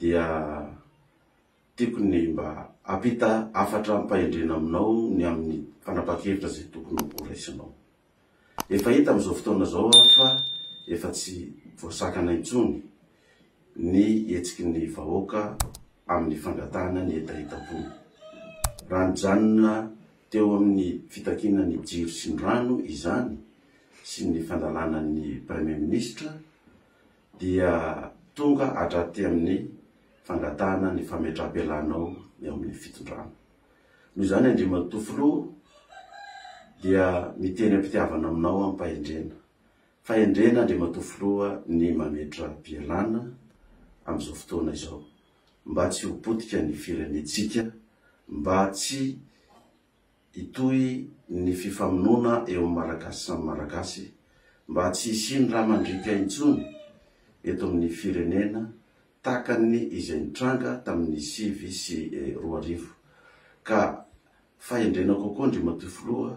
dia tiako ny mba hampita hafatra am-pahendrena aminao ny amin'ny fanapahan-kevitra izay tokony ho raisinao. Efa hita amin'izao fotoana izao aho fa efa tsy voasakana intsony ny hetsiky ny vahoaka amin'ny fangatahana ny hetahetam-pony. Raha nijanona teo amin'ny fitakiana ny jiro sy ny rano izany sy ny fandalana ny Praimiministra, dia tonga hatraty amin'ny fangatahana ny fametraham-pialanao eo amin'ny fitondrana. Noho izany Andriamatoa Filoha dia miteny am-pitiavana aminao am-pahendrena. Fahendrena Andriamatoa Filoha ny mametra-pialana amin'izao fotoana izao mba tsy ho potika ny firenentsika, mba tsy Hitohy ny fifamonoana eo amin'ny Malagasy samy Malagasy mba tsy hisian'ny ra mandriaka intsony eto amin'ny firenena takan'ny izay nitranga tamin'ny sivy sy roa arivo ka fahendrena kokoa Andriamatoa Filoha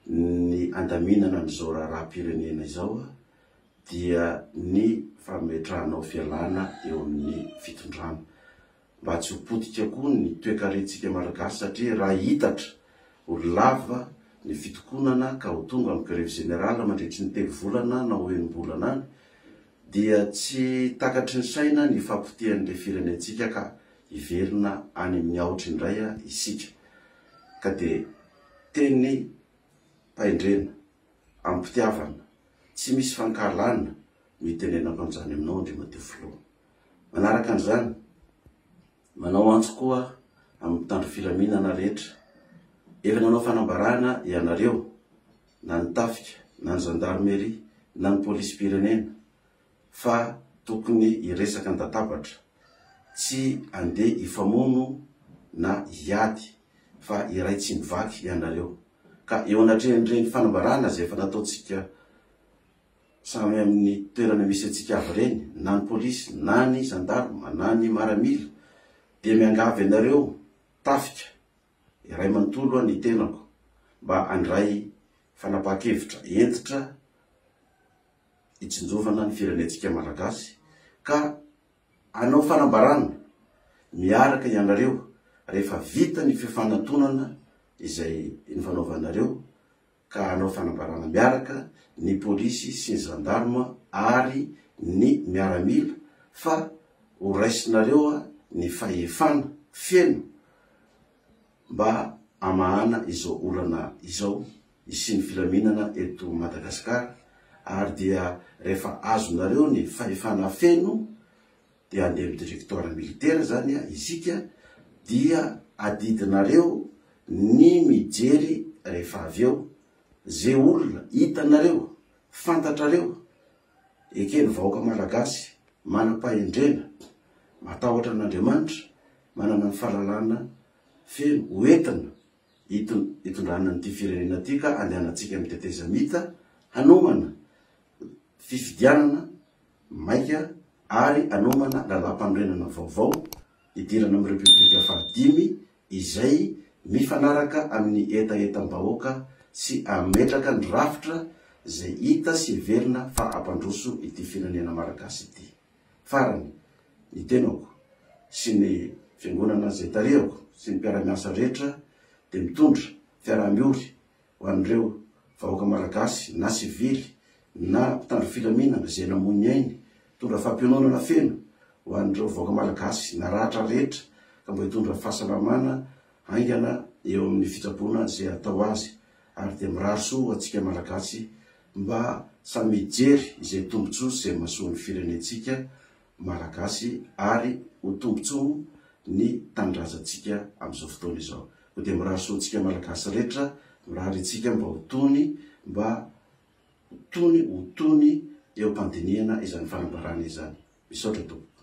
ny andaminana an'izao raharaham-pirenena izao dia ny fametrahanao fialana eo amin'ny fitondrana. mba tsy ho potika koa ny toekarentsika Malagasy satria raha hitatra ho lava ny fitokonana ka ho tonga amin'ny grevy zenerala mandritry ny telo volana na ho enim-bolana any dia tsy takatry ny saina ny fahapotehan'ilay firenentsika ka hiverina any amin'ny aotra indray isika ka dia teny paindrena amim-pitiavana tsy misy fankahalana no hitenenako an'izany aminao Andriamatoa Filoha. Manaraka an'izany, manao antso koa amin'ny mpitandro filaminana rehetra, efa nanao fanambarana ianareo, na ny tafika, na ny zandarmeria, na ny polisim-pirenena, fa tokony hiresaka an-databatra, tsy handeha hifamono na hiady, fa iray tsy mivaky ianareo. Ka eo anatrehan'ireny fanambarana izay efa nataontsika Samy amin'ny toerana misy antsika avy ireny, na ny polisy, na ny zandarma, na ny maramila, dia miangavy anareo tafika, iray manontolo aho ny tenako, mba handray fanapahan-kevitra hentitra hitsinjovana ny firenentsika Malagasy, ka hanao fanambarana miaraka ianareo rehefa vita ny fifanantonana izay nifanaovanareo ka hanao fanambarana miaraka ny polisy sy ny zandarma ary ny miaramila fa ho raisinareo ny fahefana feno mba hamahana izao olana izao hisian'ny filaminana eto Madagasikara ary dia rehefa azonareo ny fahefana feno dia handeha amin'ny directoire militaire zany isika dia adidinareo ny mijery rehefa avy eo ze olona hitanareo fantatrareo eken'ny vahoaka malagasy manam-pahendrena matahotra an'Andriamanitra manana ny fahalalana feno ho entina hitondrana an'ity firenena ity ka andehanantsika amin'ny tetezamita hanomana fifidianana maika ary anomana lalàmpanorenana vaovao hidirana amin'ny Repoblika fahadimy izay mifanaraka amin'ny hetahetam-bahoaka sy hametraka ny rafitra izay hita sy heverina fa hampandroso ity firenena Malagasy ity. Farany, ny tenako sy ny Fiangonana izay tarihako sy ny mpiara-miasa rehetra dia mitondra fiaraha-miory ho an'ireo vahoaka Malagasy na sivily na mpitandro filaminana izay namoy ny ainy, hitondra fampiononana feno ho an'ireo vahoaka Malagasy naratra rehetra ka mba hitondra fahasalamana haingana eo amin'ny fitsaboana izay hatao azy ary dia mirary soa ho antsika Malagasy mba samy hijery izay tombotsoa sy izay mahasoa ny firenentsika Malagasy ary ho tombontsoa ny tanindrazantsika amin'izao fotoana izao. Koa dia mirary soa antsika Malagasy rehetra, mirary antsika mba ho tony, mba ho tony, ho tony eo am-pandinihana izany fanambarana izany. Misaotra tompoko.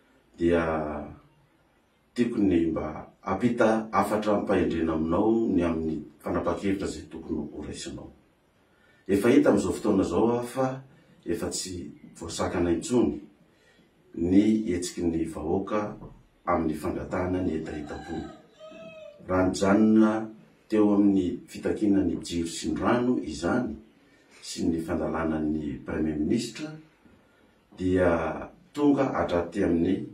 dia tiako ny mba hampita hafatra am-pahendrena aminao ny amin'ny fanapa-kevitra izay tokony ho raisinao. Efa hita amin'izao fotoana izao aho fa efa tsy voasakana intsony ny hetsiky ny vahoaka amin'ny fangatahana ny hetahetam-pony. Raha nijanona teo amin'ny fitakiana ny jiro sy ny rano izany sy ny fandalana ny Praimiministra, dia tonga hatraty amin'ny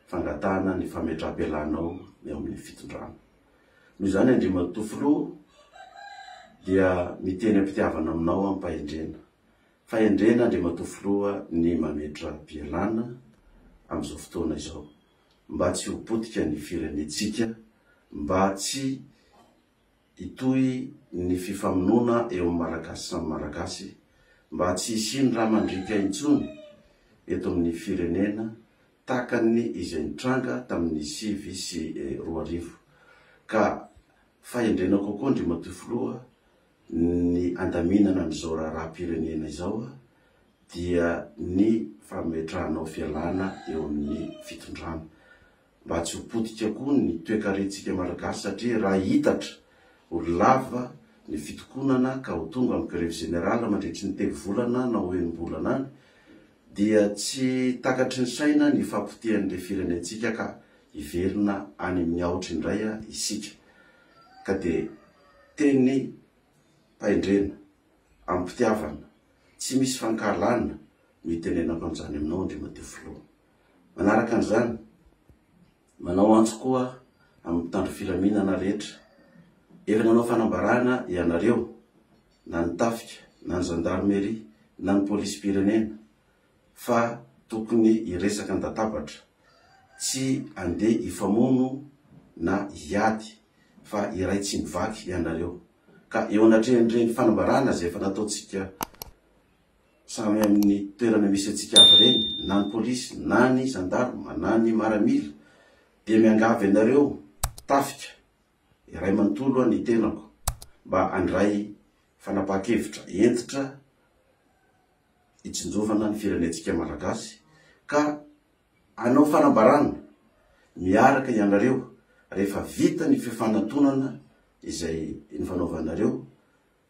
fangatahana ny fametraham-pialanao ny ao amin'ny fitondrana. Noho izany Andriamatoa Filoha dia miteny am-pitiavana aminao am-pahendrena. Fahendrena Andriamatoa Filoha ny mametra-pialana amin'izao fotoana izao mba tsy ho potika ny firenentsika, mba tsy Hitohy ny fifamonoana eo amin'ny Malagasy samy Malagasy mba tsy hisian'ny ra mandriaka intsony eto amin'ny firenena takan'ny izay nitranga tamin'ny sivy sy roa arivo ka fahendrena kokoa Andriamatoa Filoha ny andaminana an'izao raharaham-pirenena izao dia ny fametrahanao fialana eo amin'ny fitondrana mba tsy ho potika koa ny toekarentsika Malagasy satria raha hitatra ho lava ny fitokonana ka ho tonga amin'ny grevy zenerala mandritry ny telo volana na ho enim-bolana any dia tsy takatry ny saina ny fahapotehan'ilay firenentsika ka hiverina any amin'ny aotra indray isika ka dia teny pahendrena amim-pitiavana tsy misy fankahalana no hitenenako an'izany aminao Andriamadio Filoha. Manaraka an'izany, manao antso koa amin'ny mpitandro filaminana rehetra, efa nanao fanambarana ianareo, na ny tafika, na ny zandarmeria, na ny polisim-pirenena, fa tokony hiresaka an-databatra, tsy handeha hifamono na hiady, fa iray tsy mivaky ianareo, ka eo anatrehan'ireny fanambarana izay efa nataontsika Samy amin'ny toerana misy antsika avy ireny, na ny polisy, na ny zandarma, na ny maramila, dia miangavy anareo tafika, iray manontolo ny tenako, mba handray fanapahan-kevitra hentitra hitsinjovana ny firenentsika Malagasy, ka hanao fanambarana miaraka ianareo rehefa vita ny fifanatonana izay nifanaovanareo,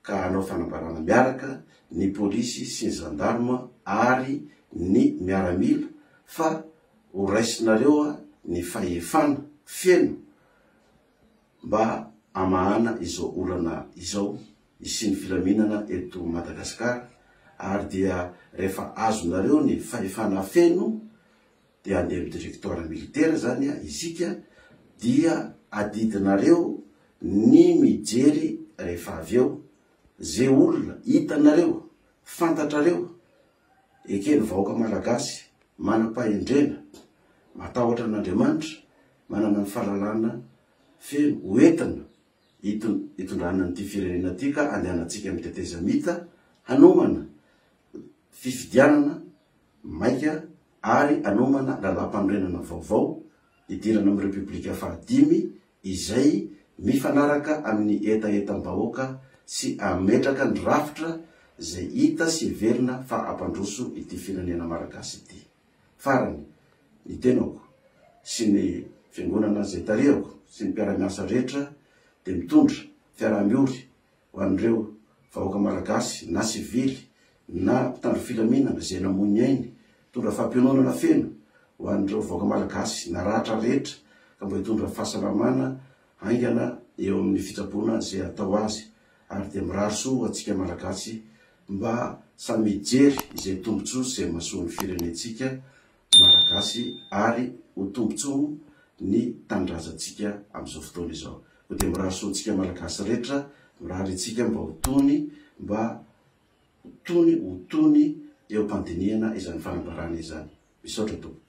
ka hanao fanambarana miaraka ny polisy sy ny zandarma ary ny miaramila fa ho raisinareo ny fahefana feno mba hamahana izao olana izao hisian'ny filaminana eto Madagasikara ary dia rehefa azonareo ny fahefana feno dia handeha amin'ny directoire militaire zany isika dia adidinareo ny mijery rehefa avy eo ze olona hitanareo fantatrareo eken'ny vahoaka malagasy manam-pahendrena matahotra an'Andriamanitra manana ny fahalalana feno ho entina hitondrana an'ity firenena ity ka andehanantsika amin'ny tetezamita hanomana fifidianana maika ary anomana lalàmpanorenana vaovao hidirana amin'ny Repoblika fahadimy izay mifanaraka amin'ny hetahetam-bahoaka sy hametraka ny rafitra izay hita sy heverina fa hampandroso ity firenena Malagasy ity. Farany, ny tenako sy ny Fiangonana izay tarihako sy ny mpiara-miasa rehetra dia mitondra fiaraha-miory ho an'ireo vahoaka Malagasy na sivily na mpitandro filaminana izay namoy ny ainy, hitondra fampiononana feno ho an'ireo vahoaka Malagasy naratra rehetra ka mba hitondra fahasalamana haingana eo amin'ny fitsaboana izay hatao azy ary dia mirary soa ho antsika Malagasy mba samy hijery izay tombotsoa izay mahasoa ny firenentsika Malagasy ary ho tombotsoa ny tanindrazantsika amin'izao fotoana izao. Koa dia mirary soa antsika Malagasy rehetra, mirary antsika mba ho tony, mba ho tony, ho tony eo am-pandinihana izany fanambarana izany. Misaotra tompoko.